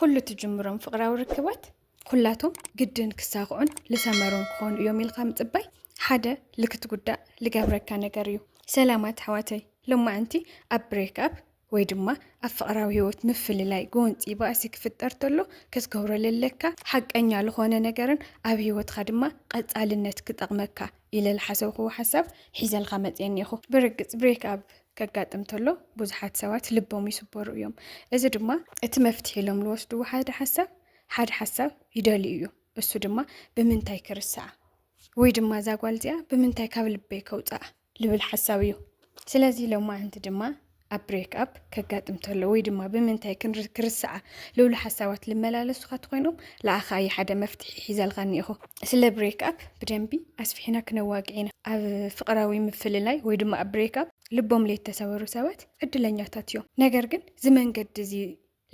ኩሉ ትጅምሮም ፍቕራዊ ርክባት ኩላቶም ግድን ክሳኽዑን ልሰመሩን ክኾኑ እዮም ኢልካ ምጽባይ ሓደ ልክትጉዳእ ልገብረካ ነገር እዩ። ሰላማት ኣሕዋተይ ሎማዕንቲ ኣብ ብሬክ ኣብ ወይ ድማ ኣብ ፍቕራዊ ህይወት ምፍልላይ ጎንፂ ባእሲ ክፍጠር ተሎ ክትገብሮ ለለካ ሓቀኛ ዝኾነ ነገርን ኣብ ህይወትካ ድማ ቐፃልነት ክጠቕመካ ኢለ ዝሓሰብክዎ ሓሳብ ሒዘልካ መፅየ እኒኤኹ። ብርግፅ ብሬክ ኣብ ከጋጥም ተሎ ብዙሓት ሰባት ልቦም ይስበሩ እዮም። እዚ ድማ እቲ መፍትሒ ኢሎም ዝወስድዎ ሓደ ሓሳብ ሓደ ሓሳብ ይደልዩ እዮም። እሱ ድማ ብምንታይ ክርስዓ ወይ ድማ እዛ ጓል እዚኣ ብምንታይ ካብ ልበይ ከውፅኣ ልብል ሓሳብ እዩ። ስለዚ ሎማዓንቲ ድማ ኣብ ብሬክ ኣፕ ከጋጥም ተሎ ወይ ድማ ብምንታይ ክርሰዓ ልብሉ ሓሳባት ልመላለሱካ ትኮይኖም ለኣኻ እዩ ሓደ መፍትሒ ሒዘልካ እኒኢኹ ስለ ብሬክ ኣፕ ብደንቢ ኣስፊሕና ክነዋግዕ ኢና ኣብ ፍቅራዊ ምፍልላይ ወይ ድማ ኣብ ብሬክ ኣፕ ልቦም ለይተሰበሩ ሰባት ዕድለኛታት እዮም ነገር ግን እዚ መንገዲ እዚ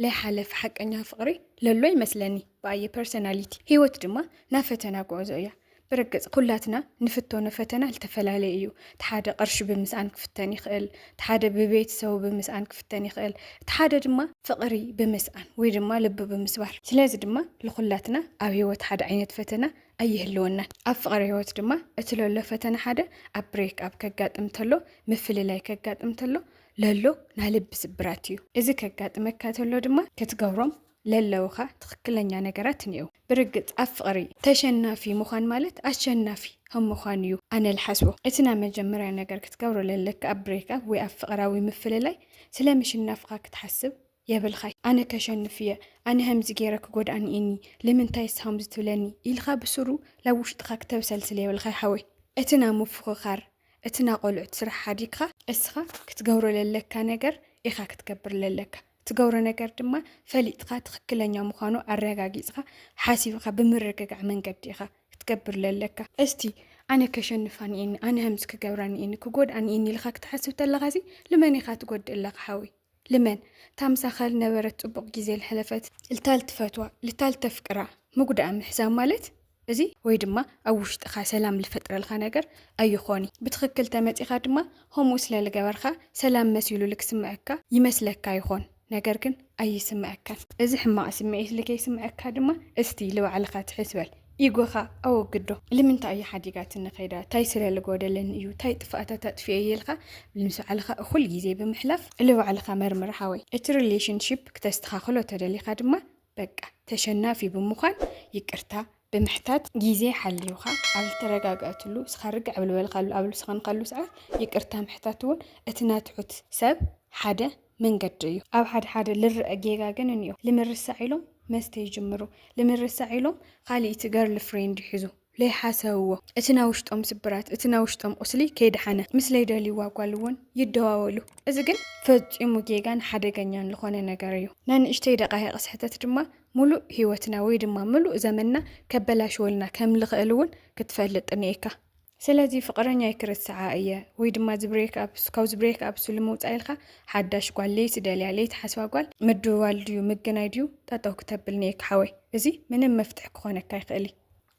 ለይሓለፍ ሓቀኛ ፍቅሪ ለሎ ይመስለኒ ብኣየ ፐርሰናሊቲ ህይወት ድማ ናብ ፈተና ጉዕዞ እያ ብርግጽ ኩላትና ንፍቶኖ ፈተና ልተፈላለየ እዩ እቲ ሓደ ቅርሺ ብምስኣን ክፍተን ይኽእል እቲ ሓደ ብቤተሰቡ ብምስኣን ክፍተን ይኽእል እቲ ሓደ ድማ ፍቅሪ ብምስኣን ወይ ድማ ልቢ ብምስባር ስለዚ ድማ ልኹላትና ኣብ ህይወት ሓደ ዓይነት ፈተና ኣይህልወናን ኣብ ፍቅሪ ህይወት ድማ እቲ ለሎ ፈተና ሓደ ኣብ ብሬክ ኣብ ከጋጥም ተሎ ምፍልላይ ከጋጥም ተሎ ለሎ ናይ ልቢ ስብራት እዩ። እዚ ከጋጥመካ ተሎ ድማ ክትገብሮም ለለውኻ ትኽክለኛ ነገራት እኒአው። ብርግፅ ኣብ ፍቕሪ ተሸናፊ ምዃን ማለት ኣሸናፊ ከም ምዃን እዩ ኣነ ልሓስቦ። እቲ ናይ መጀመርያ ነገር ክትገብሮ ለለካ ኣብ ብሬክኣፕ ወይ ኣብ ፍቕራዊ ምፍልላይ ስለ ምሽናፍኻ ክትሓስብ የብልኻይ ኣነ ከሸንፍ እየ ኣነ ከምዚ ገይረ ክጎድኣኒ እኒ ልምንታይ እስኻ ከምዚ ትብለኒ ኢልካ ብስሩ ላብ ውሽጥኻ ክተብሰልስል የብልኻይ ሓወይ እቲ ናይ ምፍኽኻር እቲ ናቆልዑት ስራሕ ሓዲግካ እስኻ ክትገብሮ ለለካ ነገር ኢኻ ክትገብር ለለካ ትገብሮ ነገር ድማ ፈሊጥካ ትኽክለኛ ምዃኑ ኣረጋጊጽካ ሓሲብኻ ብምርግጋዕ መንገዲ ኢኻ ክትገብር ለለካ እስቲ ኣነ ከሸንፋ ንኤኒ ኣነ ከምዚ ክገብራ ንኤኒ ክጎድኣ ንኤኒ ኢልካ ክትሓስብ ተለኻሲ ልመን ኢኻ ትጎድእ ኣለኻ ሓወይ ልመን እታ ምሳኻ ልነበረት ጽቡቕ ግዜ ልሐለፈት ልታ ልትፈትዋ ልታ ልተፍቅራ ምጉዳኣ ምሕሳብ ማለት እዚ ወይ ድማ ኣብ ውሽጥኻ ሰላም ልፈጥረልካ ነገር ኣይኾኒ ብትኽክል ተመጺኻ ድማ ኸምኡ ስለ ልገበርካ ሰላም መሲሉ ልክስምዐካ ይመስለካ ይኾን ነገር ግን ኣይስምዐካን እዚ ሕማቕ ስምዒት ልከይስምዐካ ድማ እስቲ ልባዕልኻ ትሕት በል ኢጎኻ ኣወግዶ ልምንታይ እያ ሓዲጋትኒ ከይዳ ታይ ስለ ልጎደለኒ እዩ ታይ ጥፍኣታት ኣጥፊኤ እየ ኢልካ ምስ ባዕልኻ እኹል ግዜ ብምሕላፍ ልባዕልኻ መርምር ሓወይ እቲ ሪሌሽንሺፕ ክተስተኻኽሎ ተደሊኻ ድማ በቃ ተሸናፊ ብምዃን ይቅርታ ብምሕታት ግዜ ሓሊዩኻ ኣብ ዝተረጋገእትሉ እስኻ ርግዕ ብልበልካሉ ኣብ ልስኸንካሉ ሰዓት ይቅርታ ምሕታት እውን እቲ ናትሑት ሰብ ሓደ መንገዲ እዩ። ኣብ ሓደ ሓደ ልረአ ጌጋ ግን እኒኦ ልምርሳዕ ኢሎም መስተ ይጅምሩ፣ ልምርሳዕ ኢሎም ኻልኢቲ ገርል ፍሬንድ ይሕዙ። ለይሓሰብዎ እቲ ናይ ውሽጦም ስብራት እቲ ናይ ውሽጦም ቁስሊ ከይደሓነ ምስ ለይደልይዋ ጓል እውን ይደዋወሉ። እዚ ግን ፈፂሙ ጌጋን ሓደገኛን ልኾነ ነገር እዩ። ናይ ንእሽተይ ደቓይቕ ስሕተት ድማ ሙሉእ ህይወትና ወይ ድማ ምሉእ ዘመንና ከበላሽወልና ከም ልኽእል እውን ክትፈልጥ እኒኤካ። ስለዚ ፍቅረኛይ ክርስዓ እየ ወይ ድማ ዝብሬክ ኣብሱ ካብ ዝብሬክ ኣብሱ ልምውፃእ ኢልካ ሓዳሽ ጓል ለይቲ ደልያ ለይቲ ሓስባ ጓል ምድዋል ድዩ ምግናይ ድዩ ጠጠው ክተብል ነየካ ሓወይ እዚ ምንም መፍትሒ ክኾነካ ይኽእል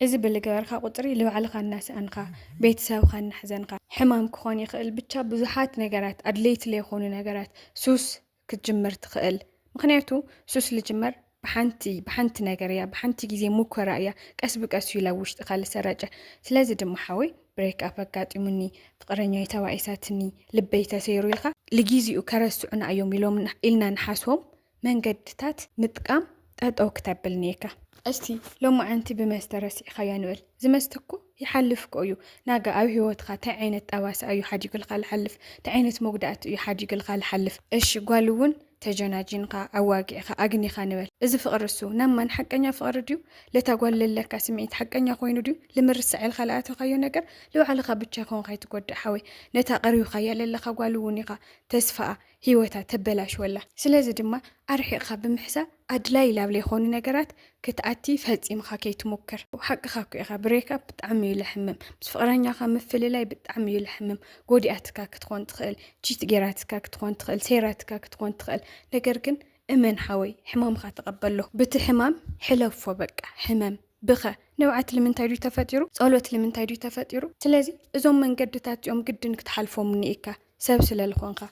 እዚ ብልገበርካ ቁፅሪ ልባዕልኻ እናሰኣንኻ ቤተሰብኻ እናሕዘንኻ ሕማም ክኾን ይኽእል ብቻ ብዙሓት ነገራት ኣድለይቲ ለይኾኑ ነገራት ሱስ ክትጅምር ትኽእል ምክንያቱ ሱስ ልጅመር ብሓንቲ ብሓንቲ ነገር እያ ብሓንቲ ግዜ ሙከራ እያ ቀስ ብቀስ እዩ ላብ ውሽጥኻ ልሰራጨ ስለዚ ድማ ሓወይ ብሬክ ኣፕ ኣጋጢሙኒ ፍቅረኛይ ተባኢሳትኒ ልበይ ተሰይሩ ኢልካ ልጊዜኡ ከረስዑና እዮም ኢሎም ኢልና ንሓስቦም መንገድታት ምጥቃም ጠጠው ክተብል ኔካ። እስቲ ሎማዓንቲ ብመስተ ረሲዕኻያ ንበል ዝመስተ እኮ ይሓልፍ እኮ እዩ ናጋ ኣብ ሂወትኻ ታይ ዓይነት ጠባሳ እዩ ሓዲግልካ ልሓልፍ ታይ ዓይነት መጉዳእቲ እዩ ሓዲግልካ ልሓልፍ እሺ ጓል እውን ተጀናጂንኻ ኣዋጊዕኻ ኣግኒኻ ንበል እዚ ፍቅሪ እሱ ናብ ማን ሓቀኛ ፍቅሪ ድዩ ለታ ጓል ለለካ ስምዒት ሓቀኛ ኮይኑ ድዩ ልምርሰዕ ኢልካ ልኣተኻዮ ነገር ልባዕልኻ ብቻ ይኸውን ካይትጎድእ ሓወይ ነታ ቀሪብኻያ ለለኻ ጓል እውን ኢኻ ተስፋኣ ህይወታ ተበላሽወላ። ስለዚ ድማ ኣርሒቕካ ብምሕሳብ ኣድላዪ ላብ ለይኮኑ ነገራት ክትኣቲ ፈጺምኻ ከይትሙክር። ሓቅኻ እኮ ኢኻ ብሬክኣፕ ብጣዕሚ እዩ ለሕምም ምስ ፍቕረኛኻ ምፍልላይ ብጣዕሚ እዩ ለሕምም ጎዲኣትካ ክትኾን ትኽእል ቺት ጌራትካ ክትኾን ትኽእል ሰይራትካ ክትኾን ትኽእል ነገር ግን እመን ሓወይ ሕማምኻ ተቐበሎ ብቲ ሕማም ሕለፎ በቃ ሕመም ብኸ ንብዓት ልምንታይ ድዩ ተፈጢሩ ጸሎት ልምንታይ ድዩ ተፈጢሩ ስለዚ እዞም መንገድታት እዚኦም ግድን ክትሓልፎም እኒኢካ ሰብ ስለልኾንካ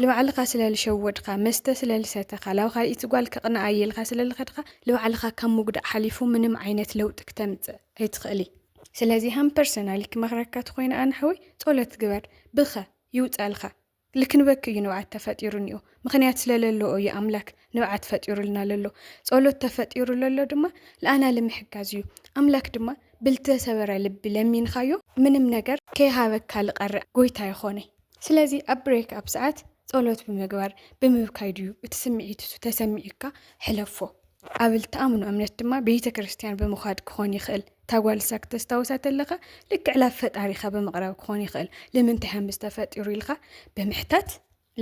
ልባዕልኻ ስለልሸወድካ መስተ ስለልሰተኻ ላብ ካልኢት ጓል ከቕንኣ እየ ኢልካ ስለልኸድኻ ልባዕልኻ ካብ ምጉዳእ ሓሊፉ ምንም ዓይነት ለውጢ ክተምጽእ ኣይትኽእሊ ስለዚ ሃም ፐርሰናሊ ክመኽረካ ትኾይነ ኣነ ሓወይ ጾሎት ግበር ብኸ ይውጻልካ ልክንበክ እዩ ንብዓት ተፈጢሩ እኒኦ ምኽንያት ስለለለኦ እዩ ኣምላክ ንብዓት ፈጢሩልና ለሎ ጸሎት ተፈጢሩ ለሎ ድማ ለኣና ልምሕጋዝ እዩ ኣምላክ ድማ ብልተሰበረ ልቢ ለሚንካዮ ምንም ነገር ከይሃበካ ልቀርዕ ጎይታ ይኾነ ስለዚ ኣብ ብሬክ ኣብ ሰዓት ጸሎት ብምግባር ብምብካይ ድዩ እቲ ስምዒት እሱ ተሰሚዑካ ሕለፎ ኣብ ልትኣምኑ እምነት ድማ ቤተ ክርስቲያን ብምዃድ ክኾን ይኽእል ታጓልሳ ክተስታውሳ ተለኻ ልክዕ ላብ ፈጣሪኻ ብምቕራብ ክኾን ይኽእል ልምንታይ ሃምዝ ተፈጢሩ ኢልካ ብምሕታት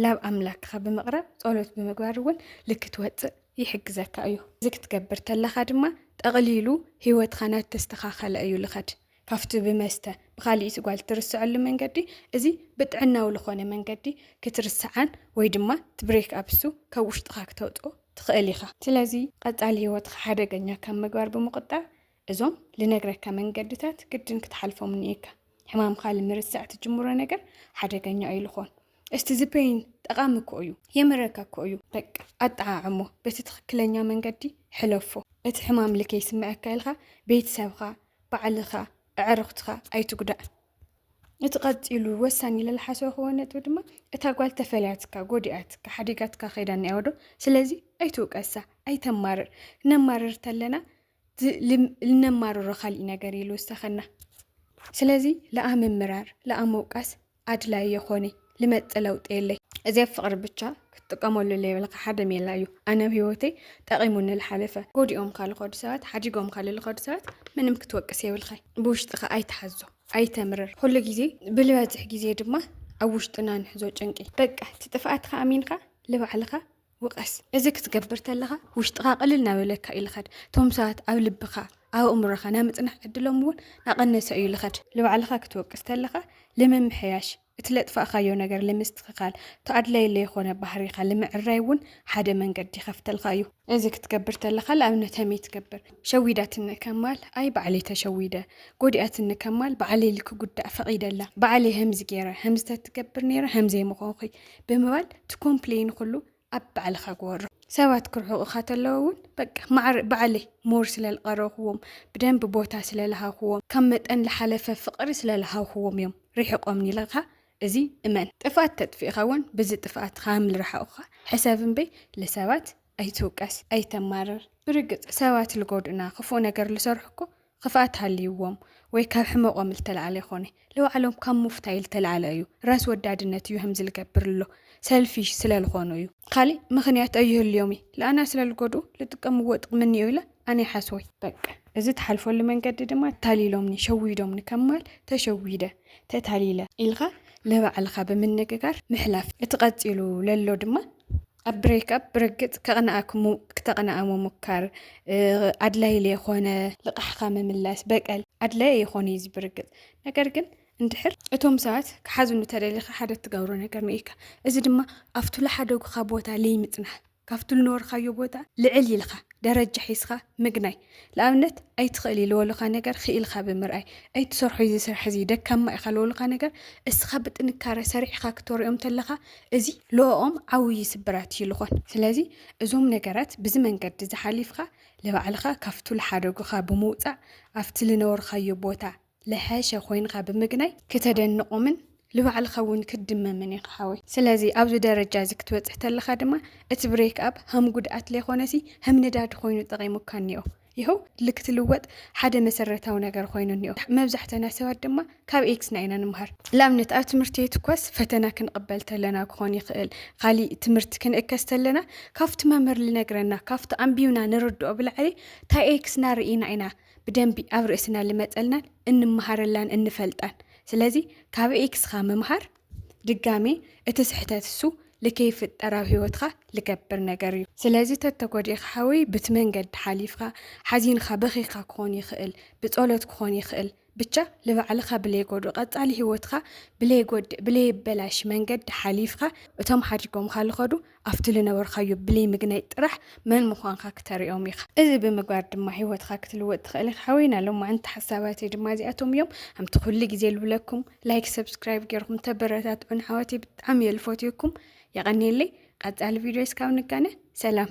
ላብ ኣምላክካ ብምቅራብ ጸሎት ብምግባር እውን ልክ ትወጽእ ይሕግዘካ እዩ እዚ ክትገብር ተለካ ድማ ጠቅሊሉ ሂወትካ ናት ተስተካከለ እዩ ልከድ ካፍቲ ብመስተ ብካሊኢት ጓል ትርስዐሉ መንገዲ እዚ ብጥዕናዊ ልኮነ መንገዲ ክትርስዓን ወይ ድማ ትብሬክ ኣብሱ ካብ ውሽጥካ ክተውጽኦ ትክእል ኢካ ስለዚ ቀጻሊ ሂወትካ ሓደገኛ ካብ ምግባር ብምቁጣብ እዞም ልነግረካ መንገድታት ግድን ክትሓልፎም እኒኤካ። ሕማምካ ልምርስዕ ትጅምሮ ነገር ሓደገኛ እዩ ልኾን። እስቲ ዝበይን ጠቓሚ እኮ እዩ፣ የምረካ እኮ እዩ። በቃ ኣጠዓዕሞ፣ በቲ ትኽክለኛ መንገዲ ሕለፎ። እቲ ሕማም ልከይስምዐካ ኢልካ ቤተሰብካ፣ ባዕልካ፣ ኣዕርኽትካ ኣይትጉዳእ። እቲ ቀፂሉ ወሳኒ ኢለ ልሓሰብክዎ ነጥቢ ድማ እታ ጓል ተፈልያትካ፣ ጎዲኣትካ፣ ሓዲጋትካ ከይዳ እኒኣ ዶ? ስለዚ ኣይትውቀሳ፣ ኣይተማርር። ነማርር ተለና ልነማርሮ ካሊእ ነገር ኢሉ ዝተኸና ስለዚ ለኣምምራር ለኣመውቃስ ኣድላይ የኾነ ልመጥ ለውጥ የለይ እዚ ኣብ ፍቅሪ ብቻ ክትጥቀመሉ ለይብልካ ሓደ ሜላ እዩ ኣነ ኣብ ህይወተይ ጠቂሙኒ ልሓለፈ ጎዲኦም ካል ኸዱ ሰባት ሓዲጎም ካል ልኸዱ ሰባት ምንም ክትወቅስ የብልካ ብውሽጥኻ ኣይትሓዞ ኣይተምርር ኩሉ ግዜ ብልበዝሕ ግዜ ድማ ኣብ ውሽጥና ንሕዞ ጭንቂ በቃ እቲ ጥፍኣትካ ኣሚንካ ልባዕልኻ ውቐስ። እዚ ክትገብር ተለኻ ውሽጥኻ ቅልል እናበለካ እዩ ልኸድ። እቶም ሰባት ኣብ ልብኻ ኣብ ኣእምሮኻ ናይ ምጽናሕ ዕድሎም እውን ናቐነሰ እዩ ልኸድ። ልባዕልኻ ክትወቅስ ተለኻ ልምምሕያሽ፣ እቲ ለጥፋእካዮ ነገር ልምስትኽኻል፣ እቶ ኣድላይ ለይኾነ ባህሪኻ ልምዕራይ እውን ሓደ መንገዲ ይኸፍተልካ እዩ። እዚ ክትገብር ተለኻ ልኣብነት ሀመይ ትገብር? ሸዊዳትኒ ከማል፣ ኣይ ባዕለይ ተሸዊደ። ጎዲኣትኒ ከማል፣ ባዕለይ ልክጉዳእ ፈቒደላ። ባዕለይ ሀምዚ ገይረ፣ ሀምዚ ተትገብር ነይረ ሀምዘይ ምኾንኹይ። ብምባል ትኮምፕለይ ንኩሉ ኣብ ባዕልካ ግበሮ። ሰባት ክርሕቁካ ተለዉ እውን በቃ ማዕረ ባዕለይ ሞር ስለልቀረብክዎም ብደንቢ ቦታ ስለልሃብክዎም ካብ መጠን ልሓለፈ ፍቅሪ ስለልሃብክዎም እዮም ሪሕቆምኒ ኢልካ እዚ እመን ጥፍኣት ተጥፊእካ እውን ብዚ ጥፍኣትካ ከምልረሓቁካ ሕሰብ እምበይ ልሰባት ኣይትውቀስ ኣይተማርር ብርግፅ ሰባት ልጎድኡና ክፉእ ነገር ልሰርሑ እኮ ኽፍኣት ሃልይዎም ወይ ካብ ሕመቆም ልተልዓለ ኣይኮነ ልባዕሎም ካብ ሙፍታይ ልተልዓለ እዩ ራስ ወዳድነት እዩ ህምዚ ልገብር ልሎ ሰልፊሽ ስለ ልኮኑ እዩ። ኻሊእ ምኽንያት ኣይህልዮም እዪ ልኣና ስለ ልጎድኡ ልጥቀምዎ ጥቅሚ እኒኦ ኢለ ኣነ ይሓስቦይ። በቃ እዚ ትሓልፈሉ መንገዲ ድማ ታሊሎምኒ ሸዊዶምኒ ከም ማል ተሸዊደ ተታሊለ። ኢልኻ ልባዕልኻ ብምንግጋር ምሕላፍ እቲ ቀጺሉ ለሎ ድማ ኣብ ብሬክኣፕ ብርግፅ ከቕንኣክሙ ክተቕንኣ ምሙካር ኣድላይ ለይኾነ ልቓሕኻ ምምላስ በቀል ኣድላይ ይኾነ እዩ ብርግፅ ነገር ግን እንድሕር እቶም ሰባት ክሓዝኑ ተደሊኻ ሓደ እትገብሮ ነገር ንኢካ እዚ ድማ ኣብቱ ለሓደጉኻ ቦታ ለይምፅናሕ ካብቱ ልነበርካዮ ቦታ ልዕል ኢልኻ ደረጃ ሒዝኻ ምግናይ ንኣብነት ኣይትኽእል እዩ ዝበሉኻ ነገር ክኢልካ ብምርኣይ ኣይትሰርሖ እዚ ስራሕ እዚ ደካማ ኢኻ ዝበሉኻ ነገር እስኻ ብጥንካረ ሰሪዕኻ ክትወርኦም ተለኻ እዚ ልኦም ዓብዪ ስብራት እዩ ዝኾን ስለዚ እዞም ነገራት ብዚ መንገዲ ዝሓሊፍካ ንባዕልኻ ካብቱ ዝሓደጉኻ ብምውፃእ ኣብቲ ዝነበርካዮ ቦታ ልሐሸ ኮይንኻ ብምግናይ ክተደንቆምን ልባዕልኻ እውን ክትድመምን ኢኻ ሓወይ ስለዚ ኣብዚ ደረጃ እዚ ክትበጽሕ ተለኻ ድማ እቲ ብሬክ ኣብ ሃም ጉድኣት ለይኾነሲ ሃም ነዳዲ ኮይኑ ጠቂሙካ እኒኦ ይኸው ልክትልወጥ ሓደ መሰረታዊ ነገር ኮይኑ እኒኦ መብዛሕተና ሰባት ድማ ካብ ኤክስና ኢና ንምሃር ልኣብነት ኣብ ትምህርቲ ቤት እኳስ ፈተና ክንቕበል ተለና ክኾን ይኽእል ካሊእ ትምህርቲ ክንእከስ ተለና ካብቲ መምህር ልነግረና ካብቲ ኣንቢብና ንርድኦ ብላዕሊ ታይ ኤክስና ርኢና ኢና ብደንቢ ኣብ ርእስና ልመጸልናን እንመሃረላን እንፈልጣን ስለዚ ካብ ኤክስኻ ምምሃር ድጋሜ እቲ ስሕተት እሱ ልከይፍጠር ኣብ ህይወትካ ልገብር ነገር እዩ ስለዚ ተተጎዲእካ ሓወይ ብቲ መንገዲ ሓሊፍካ ሓዚንካ በኺካ ክኾን ይኽእል ብጸሎት ክኾን ይኽእል ብቻ ልባዕልኻ ብለይጎድኡ ቀጻሊ ህይወትካ ብለይጎድእ ብለይበላሽ መንገዲ ሓሊፍካ እቶም ሓዲጎምካ ልኸዱ ኣብቲ ልነበርካዮ ብለይ ምግናይ ጥራሕ መን ምዃንካ ክተርእዮም ኢኻ። እዚ ብምግባር ድማ ህይወትካ ክትልወጥ ትኽእል ኢኻ ሓወይና። ሎማዓንቲ ሓሳባተይ ድማ እዚኣቶም እዮም። ከምቲ ኩሉ ግዜ ልብለኩም ላይክ ሰብስክራይብ ገይርኩም ተበረታትዑን ኣሕዋተይ ብጣዕሚ እየ ልፎትየኩም። የቐኔለይ። ቀጻሊ ቪድዮ እስካብ ንጋነ ሰላም።